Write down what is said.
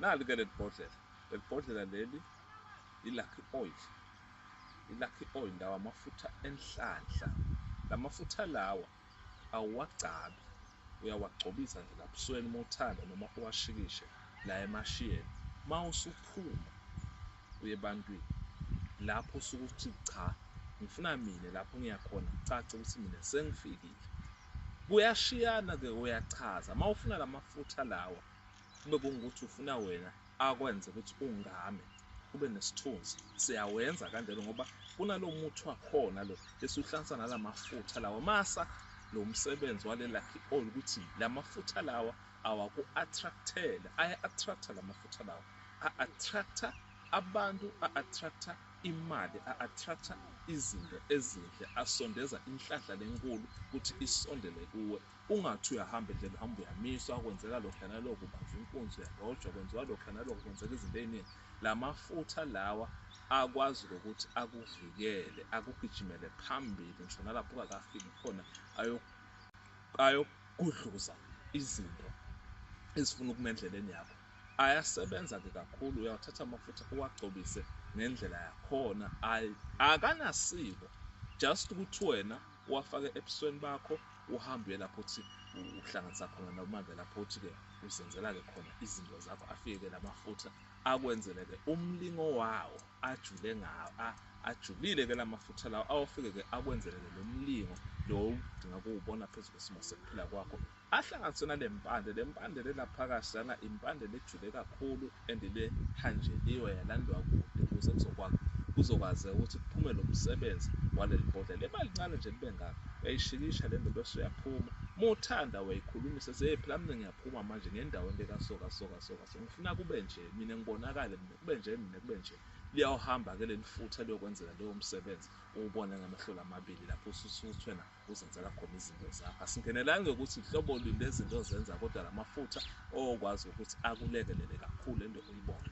Nali ke leli bhodlela, leli bhodlela leli i-lucky oil. I-lucky oil lawa amafutha enhlanhla. La mafutha lawa awuwagcabi, uyawagcobisa nje labusweni uma uthanda noma uwashikishe la emashiyeni. Uma usuphuma uye ebantwini lapho usuke uthi cha ngifuna mina lapho ngiyakhona cace ukuthi mina sengifikile. Kuyashiyana-ke uyachaza uma ufuna la mafutha lawa kube kungukuthi ufuna wena akwenze ukuthi ungame ube nesithunzi siyawenza kanjalo ngoba kunalo muthi wakhona lo esuhlansa nala mafutha lawa masa lo msebenzi wale lucky oil ukuthi la mafutha lawa awaku-attractele aya-attracta la mafutha lawa a-attracta abantu a-attracta imali a-attracta izinto ezinhle asondeza inhlanhla lenkulu ukuthi isondele kuwe Ungathi uyahamba endlela uhamba uyamiswa kwenzeka lokhu nalokho ubanjwa inkunzi uyalojwa kwenziwa lokhu nalokho kwenzeka izinto ey'ningi la mafutha lawa akwazi ukuthi akuvikele akugijimele phambili ngisho nalapho ungakafiki khona ayokugudluza izinto ezifuna ukuma endleleni yakho ayasebenza-ke kakhulu uyawathatha amafutha uwagcobise ngendlela yakhona akanasiko just ukuthi wena uwafake ebusweni bakho uhambe uye lapho uthi uhlanganisa khona nomandla lapho uthi-ke uzenzela-ke khona izinto zakho afike-ke lamafutha akwenzele-ke umlingo wawo ajule ngawo ajulile-ke la mafutha lawo awafike-ke akwenzele-ke lo mlingo lo udinga kuwubona phezu kwesimo sekuphila kwakho Ahlanganise nalempande, lempande le laphakathi lana impande lejule kakhulu and le hanjeliwe yalandwa kude ukuze kuzokwakha kuzokwazeka ukuthi kuphume lo msebenzi waleli bhodlela liba lincane nje libe ngaka uyayishikisha le nto bese uyaphuma uma uthanda uyayikhulumisa se phela mina ngiyaphuma manje ngendaweni lekasoka soka soka so ngifuna kube nje mina ngibonakale mina kube nje mina kube nje liyawuhamba-ke leli futha liyokwenzela leyo msebenzi uwubone ngamehlo lamabili lapho ususuthwe nakho kuzenzela khona izinto zakho. Asingenelanga ukuthi hlobo lini lezinto ozenza kodwa la mafutha okwazi ukuthi akulekelele kakhulu ende uyibone.